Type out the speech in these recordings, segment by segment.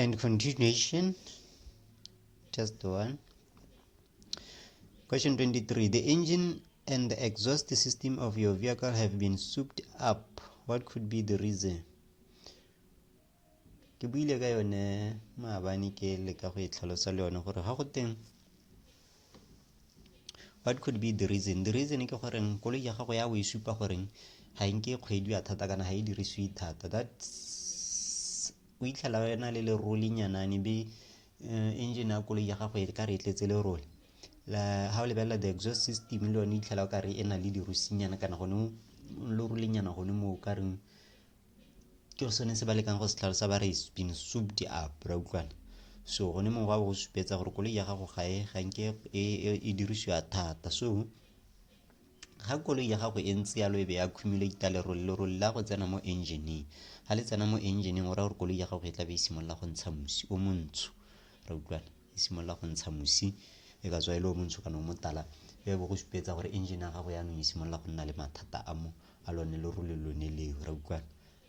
and continuation just one question 23 the engine and the exhaust system of your vehicle have been souped up what could be the reason ke buile ka yone maabane ke le ka go e tlhalosa le yone gore ga go teng what could be the reason the reason ke goreng koloi ya gago ya o e supa goreng ga nke e kgwediwa thata kana ga e dirisiwe thata that o itlhela wena le le rolinyanane be eh, engine ya koloi ya gago e ka re e tletse le role ga o lebelela the exhaust system le yone itlhela o ka re e na le dirusinyana kana gone lo rolenyana gone moo o ka reng ke go sone se ba lekang go se tlhalosa ba re been souped up ra utlwana so gone mongwe wa go supetsa gore koloi ya gago ga e ga nke e, e-, e dirisiwa thata so ga koloi ya gago e ntse yalo e be ya accumulata lerole lerole la go tsena mo engineeng ga le tsena mo engineeng o raya gore koloi ya gago e tla be e simolola go ntsha mosi o montsho ra utlwana e simolola go ntsha mosi e ka tswa e le o montsho kana o motala e bo go supetsa gore engine ya gago yaanong e simolola go nna le mathata a mo a lone le role lone leo ra utlwana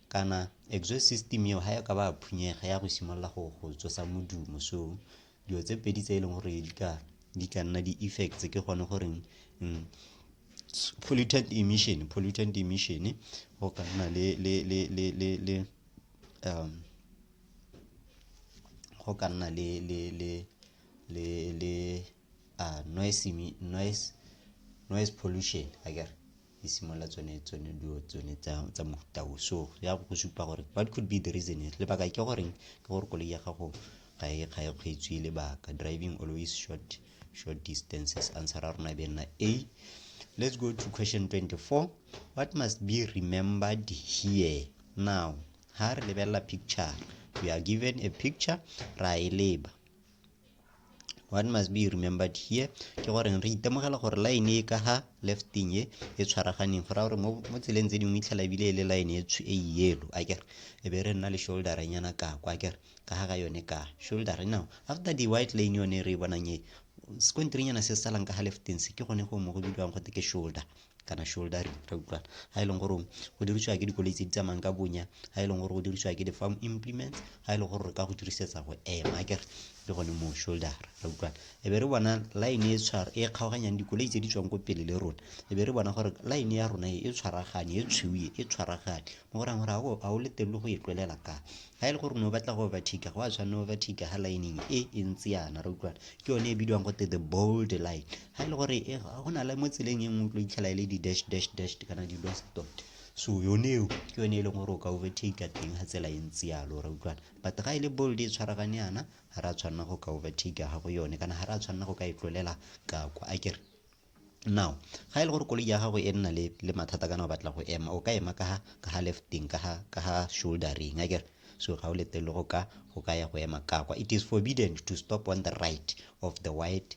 kana exhaust system eo ga ya ka ba phunyega ya go simolola go go tsosa modumo so dilo tse pedi tse e leng gore di ka di ka nna di-effects ke gone goreng mm, pollutant emission pollutant emission go ka nna le le le le le le um go ka nna le noise pollution akere e simolola tsone dilo tsone tsa mofuta o so ya go go supa gore what could be the reason here lebaka ke goreng ke gore koloi ya gago ga e kgweetswe lebaka driving always short short distances answer ya rona e be nna a let's go to question 24 what must be remembered here now ha re lebelela picture we are given a picture ra e leba what must be remembered here ke gore re itemogela gore line e ka ha lefting e e tshwaraganeng gore gore mo tseleng tse dingwe itlhela ebile e le line e e yellow a kere e be re nna le shoulder nyana ka kwa kere ka ga ga yone ka shoulder now after the white lane yone re e bonang e sekonterinyana se salang ka ga lefting se ke gone go mo go bidiwang gote ke shoulder kana shoulder re utlwana ha e leng gore go dirisiwa ke dikoloi tse di tsamayang ka bonya ha e leng gore go dirisiwa ke di-farm implement ha e leng gore re ka go dirisetsa go ema kere le gone mo shoulder re utlwana e be re bona line e tshwara e kgaoganyang dikoloi tse di tswang ko pele le rona e be re bona gore line ya rona e tshwaragane e tshwiwe e tshwaragane mo go rang gore ga o le teng le go e tlolela ka ga e le gore ne o batla go overtake go a tshwanne overtake ga lineng e e ntse yana re utlwana ke yone e bidiwang go te the bold line ga e le gore e go na le mo tseleng e nngwe o tlo itlhela e le di-dash dash dash kana di-lost dot so yone eo ke yone e leng gore o ka overtake teng ga tsela e ntse yalo ra utlwana but ga e le bold e tshwaragane yana ga re a tshwanela go ka overtake ga go yone kana ga re a tshwanela go ka e tlolela ka kwa a kere now ga e le gore koloi ya gago e nna le mathata kana o batla go ema o ka ema ka ga lefting ka ga shouldering a kere so ga o letele go ka go ka ya go ema ka kwa it is forbidden to stop on the right of the white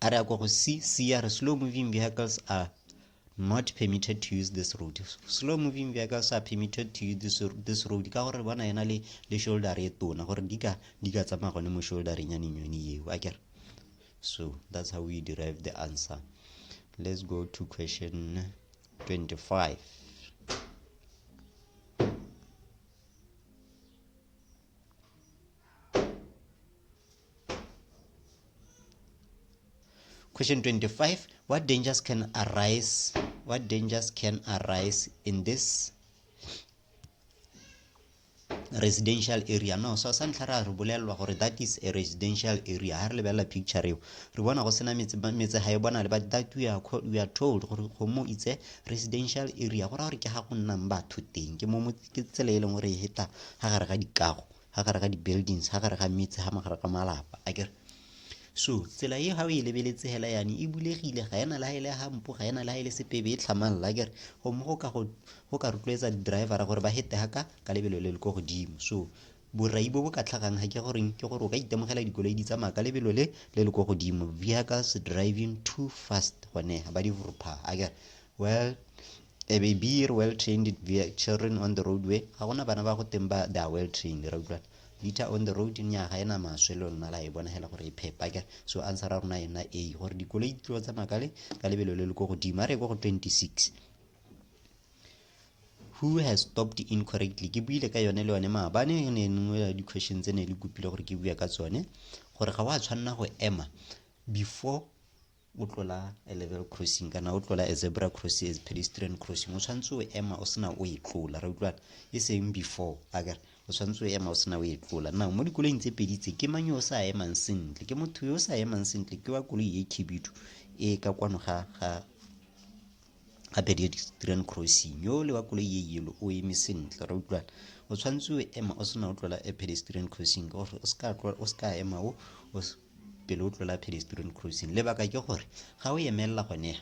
a re a kwa go c c a re slow moving vehicles are not permitted to use this road slow moving vehicles are permitted to use this, this road ka gore bona ena le le shoulder e tona gore di ka di ka tsamaya gone mo shouldering ya nenyone eo a kere so that's how we derive the answer let's go to question 25 Thank you. Question 25 What dangers can arise? What dangers can arise in this residential area no so sa ntlha ra re bolelelwa gore that is a residential area ha re lebelela picture eo re bona go sena metse metse ga e bona le but that we are, we are told gore go mo itse residential area go ra gore ke ga go nnang batho teng ke mo ke tsela e leng gore e heta ga gare ga dikago ga gare ga di-buildings ga gare ga metse ga magare ga malapa a kere so tsela e ga o e lebeletse hela yane e bulegile ga ena le ga e le gampo ga ena le ga e le sepebe e tlhamang la kere gomme go ka go ka rotloetsa di-drivera gore ba hete ga ka ka lebelo le le ko godimo so borai bo bo ka tlhagang ga ke goreng ke gore o ka itemogela dikoloi di tsamaya ka lebelo le le le ko godimo vehicles driving too fast gone ba di vropa a kere well a baby re well trained children on the roadway ga gona bana ba go teng ba they are well trained ra utlwana liter on the road nya ga ena maswe le lona la e bona hela gore e phepa ka so answer ra rona ena a gore dikoloi tlo tsa makale ka lebelo le le go godimo a re go 26 who has stopped incorrectly ke buile ka yone le yone maabane e ne nngwe ya di-question tse ne le kopile gore ke bua ka tsone gore ga wa tshwanela go ema before o tlola a level crossing kana o tlola a zebra crossing as pedestrian crossing o tshwanetse o ema o sena o e tlola re utlwana e seng before a kere o tshwanetse o ema o sena o e tlola now mo dikoloing tse pedi tse ke mang yo o sa emang sentle ke motho yo o sa emang sentle ke wa koloi e khibidu e ka kwano ga ga ga pedestrian crossing yo le wa koloi e yelo o eme sentle re utlwana o tshwanetse o ema o sena o tlola a pedestrian crossing gore o seka ema o pele o tlola pedestrian crossing lebaka ke gore ga o emelela gone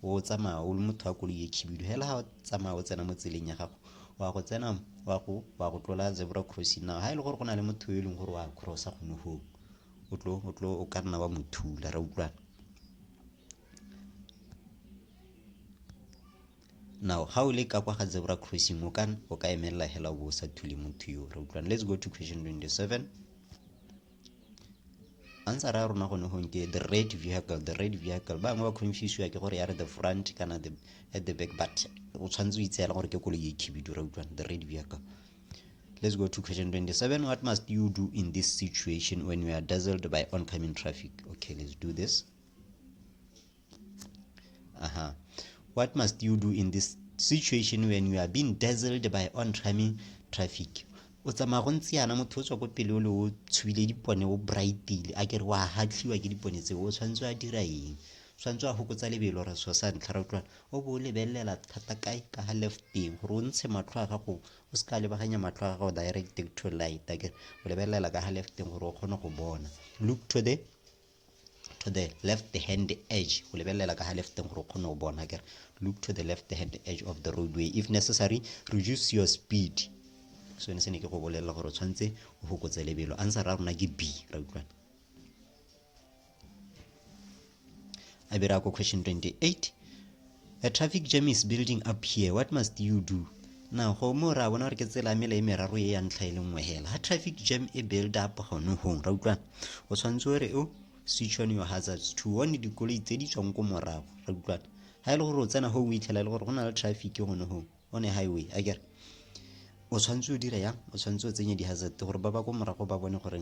o tsamaya o le motho wa koloi e khibidu fela ga o tsamaya o tsena mo tseleng ya gago wa go tsena wa go wa go tlola zebra crossing now ga e le gore go na le motho yo e leng gore wa crossa gone goo o tlo o tlo o ka nna wa mothula ra utlwana now ga o le ka kwa ga zebra crossing o ka o ka emelela hela o bo o sa thule motho yo re utlwana let's go to question 27 answer ya rona gone gong ke the red vehicle the red vehicle ba bangwe ba confuse ya ke gore ya re the front kana the at the back but o tshwanetse o itseela gore ke koloi e khibidu ra utlwana the red vehicle let's go to question 27 what must you do in this situation when you are dazzled by oncoming traffic okay let's do this Uh-huh. What must you do in this situation when you are being dazzled by oncoming traffic? o tsamaya go ntse yana motho o tswa ko pele o le o tshwile dipone o brightile a kere wa hatlhiwa ke dipone tseo o tshwanetse a dira eng tshwanetse a gokotsa lebelo re so sa ntlha ra utlwana o bo o lebelelela thata kae ka ga left teng gore o ntshe matlho a gago o se ka lebaganya matlho a gago direct to light a kere o lebelelela ka ga left teng gore o kgone go bona look to the to the left hand edge go lebelela ka ga lefteng gore o kgone go bona kere look to the left hand edge of the roadway if necessary reduce your speed so ne se ne ke go bolelela gore o tshwanetse o fokotse lebelo answer ra rona ke b ra utlwana a bira ko question 28 A traffic jam is building up here. What must you do? Na go mo ra bona gore ke tsela mela e meraro e ya ntlha e le nngwe hela. Ha traffic jam e build up gone hong. Ra utlwa. O tshwanetse gore o switch on your hazards to warn dikoloi tse di tswang ko morago. Ra utlwa. Ha ile e gore o tsena ho o itlhela e le gore go na le traffic gone hong on a highway. A kere o tshwanetse o dira yang o tshwanetse o tsenye di-hazard gore ba ba ko morago ba bone gore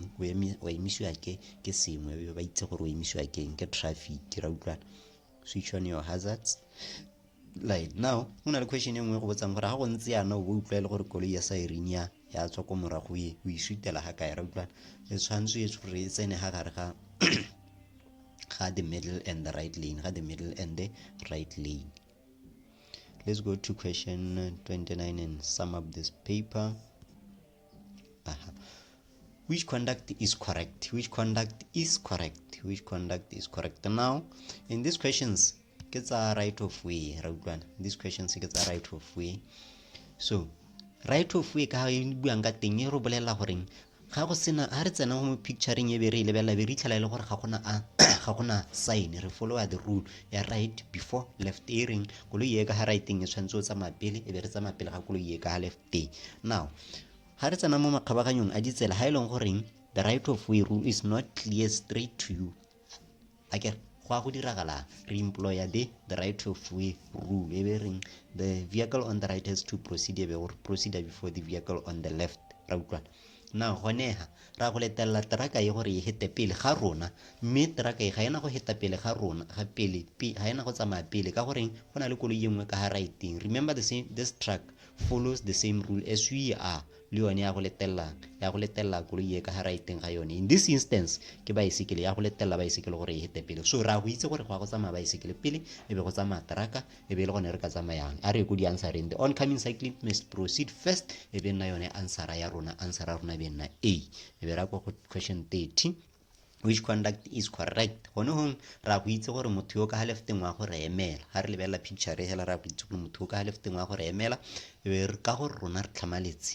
wa emisiwa ke ke sengwe ba itse gore o emisiwa keng ke traffic ra utlwana switch on your hazards like now go na le question e nngwe go botsang gore ga go ntse yana o bo utlwa e le gore koloi ya siren ya ya tswa ko morago e o isutela ga kae ra utlwana e tshwanetse e gore e tsene ga gare ga ga the middle and the right lane ga the middle and the right lane let's go to question 29 and sum up this paper which conduct is correct which conduct is correct which conduct is correct now in these questions ke tsa right of way ra utlwana these questions ke tsa right of way so right of way ka e buang ka teng e re bolelela goreng ga go sena ga re tsena mo picturing e be re e lebelela be re itlhela e le gore ga gona a ga gona sign re followa the rule ya right before left earing koloi e ka ga righteng e tshwanetse o tsamaya pele e be re tsamaya pele ga koloi e ka ga left teng now ga re tsena mo makgabaganyong a ditsela ga e leng goreng the right of way rule is not clear straight to you a ke go a go diragala re employer the the right of way rule e be reng the vehicle on the right has to proceed e be gore proceed before the vehicle on the left ra utlwana na gonega ra go letelela teraka e gore e hete pele ga rona mme teraka e ga ena go heta pele ga rona ga pele ga ena go tsamaya pele ka goreng go na le koloi e nngwe ka ga raeteng remember the same, this truck follows the same rule as we are le yone ya go letelelang ya go letelela koloi e ka ga raiteng ga yone in this instance ke baesekele ya go letelela baesekele gore e hete pele so ra go itse gore go ya go tsamaya baesekele pele e be go tsamaya teraka e be e le gone re ka tsamayang a re ko di answereng the oncoming cycling must proceed first e be nna yone answera ya rona answera ya rona e be nna a e be ra kwa go question 30 which conduct is correct gone gong ra go itse gore motho yo ka ga lefteng wa go re emela ga re lebelela picture e hela ra go itse gore motho yo ka ga lefteng wa go re emela e ka gore rona re tlhamaletse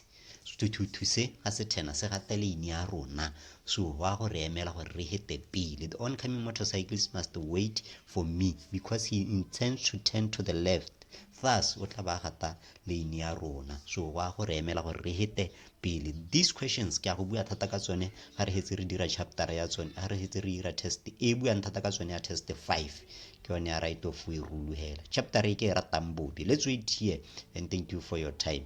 sethuthuthu se ga se thena se gata leine ya rona so wa go re emela gore re hete pele the oncoming motorcyclist must wait for me because he intends to turn to the left thus o tla ba gata leine ya rona so wa go re emela gore re hete pele these questions ke a go bua thata ka tsone ga re hetse re dira chapter ya tsone ga re hetse re dira test e buang thata ka tsone ya test 5 ke yone ya right of way rule hela chapter e ke e ratang bobe let's wait here and thank you for your time